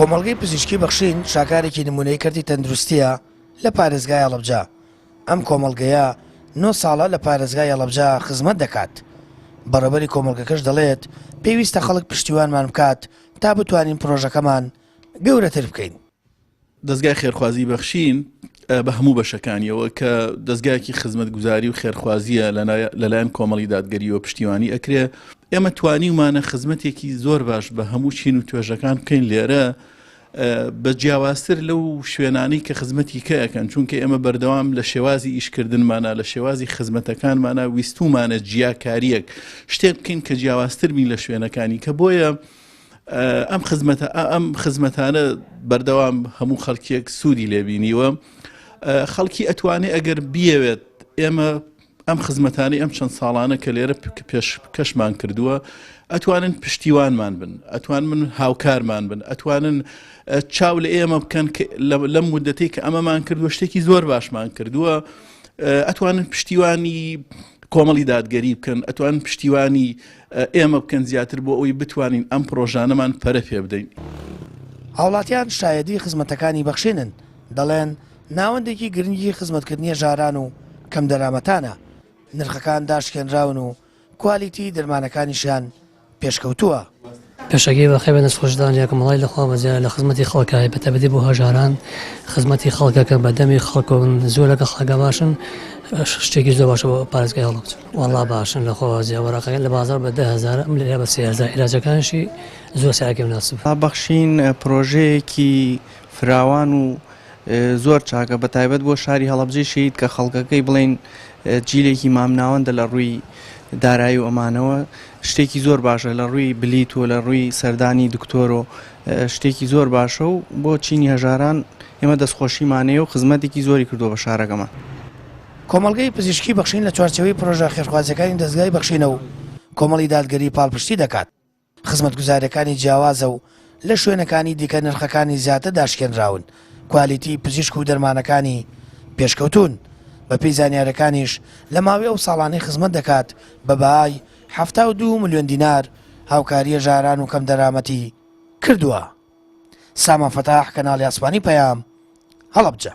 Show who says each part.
Speaker 1: کۆمەڵگەی پزیشکی بەخشین شاکارێکی نمونەی کەرتی تەندروستیە لە پارێزگای هەڵەبجە ئەم کۆمەڵگەیە نۆ ساڵە لە پارێزگای هەڵەبجە خزمەت دەکات بەڕێبەری کۆمەڵگەکەش دەڵێت پێویستە خەڵک پشتیوانمان بکات تا بتوانین پرۆژەکەمان گەورەتر بکەین دەزگای
Speaker 2: خێرخوازی بەخشین بە هەموو بەشەکانیەوە کە دەستگایەکی خزمەتگوزاری و خێرخوازیە لەلایەن کۆمەڵی دادگەریەوە پشتیوانی ئەکرێ ئێمە توانی ومانە خزمەتێکی زۆر باش بە هەموو چین و توێژەکان بکەین لێرە بە جیاوازتر لەو شوێنانەی کە خزمەتی کەەکەن چونکە ئێمە بەردەوام لە شێوازی ئیشکردنمانە لە شێوازی خزمەتەکانمانە ویستومانە جیاکاریەک شتێک بکەین کە جیاوازتر بین لە شوێنەکانی کە بۆیە ئەم خزمەتە ئەم خزمەتانە بەردەوام هەموو خەڵکیەک سوودی لێبینیوە خەڵکی ئەتوانێ ئەگەر بیەوێت ئێمە ئەم خزمەتانی ئەم چەند ساڵانە کە لێرە پێش کەشمان کردووە ئەتوانن پشتیوانمان بن ئەتوان من هاوکارمان بن ئەتوانن چاو لە ئێمە بکەن لەم مدەتی کە ئەمەمان کردووە شتێکی زۆر باشمان کردووە ئەتوانن پشتیوانی کۆمەڵی دادگەری بکەن ئەتوان پشتیوانی ئێمە بکەن زیاتر بۆ ئەوەی بتوانین ئەم پرۆژانەمان پەرە پێ بدەین. هاوڵاتیان
Speaker 1: شایەدی خزمەتەکانی بەخشێنن دەڵێن، ناوەندێکی گرنگی خزمەتکردنیە ژاران و کەم دەرامەتانە، نرخەکان داشکێنراون و کوالیتی دەرمانەکانیشیان پێشکەوتووە. پێشەکی
Speaker 3: بەخێو بە دەستخۆشدان یەکەم هەڵای لە خوا بەزیایە لە خزمەتی خەڵکە بە تایبەتی بۆ هەژاران خزمەتی خەڵکەکە بە دەمی خەڵکەون زۆرەکە خەڵکە باشن شتێکی زۆر باشە بۆ پارێزگای هەڵەبجە. وەڵا باشن لە خۆازیا وەرەقەکە لە بازاڕ بە دە هەزارە ئەم لێرە بە سێ هەزار عیلاجەکانشی زۆر سعرەکەی مناسبە. دابەخشین
Speaker 4: پرۆژەیەکی فراوان و زۆر چاکە بە تایبەت بۆ شاری هەڵەبجەی شەهید کە خەڵکەکەی بڵێین جیلێکی مامناوەندە لە ڕووی دارایی و ئەمانەوە شتێکی زۆر باشە لە ڕووی بلیت و لە ڕووی سەردانی دکتۆر و شتێکی زۆر باشە و بۆ چینی هەژاران ئێمە دەستخۆشیمانەیە و خزمەتێکی زۆری کردو بە شارەکەمان. کۆمەڵگەی
Speaker 1: پزیشکی بەخشین لە چوارچێوەی پرۆژە خێرخوازیەکانی دەزگای بەخشینە و کۆمەڵی دادگەری پاڵپشتی دەکات. خزمەتگوزاریەکانی جیاوازە و لە شوێنەکانی دیکە نرخەکانی زیاتر داشکێنراون، کوالیتی پزیشک و دەرمانەکانی پێشکەوتوون، بەپێی زانیاریەکانیش لە ماوەی ئەو ساڵانەی خزمەت دەکات بە بەهای حەفتا و دوو ملیۆن دینار هاوکاریە ژاران و کەمدەرامەتی کردووە. سامان فەتاح، کەناڵی ئاسمانی پەیام، هەڵەبجە.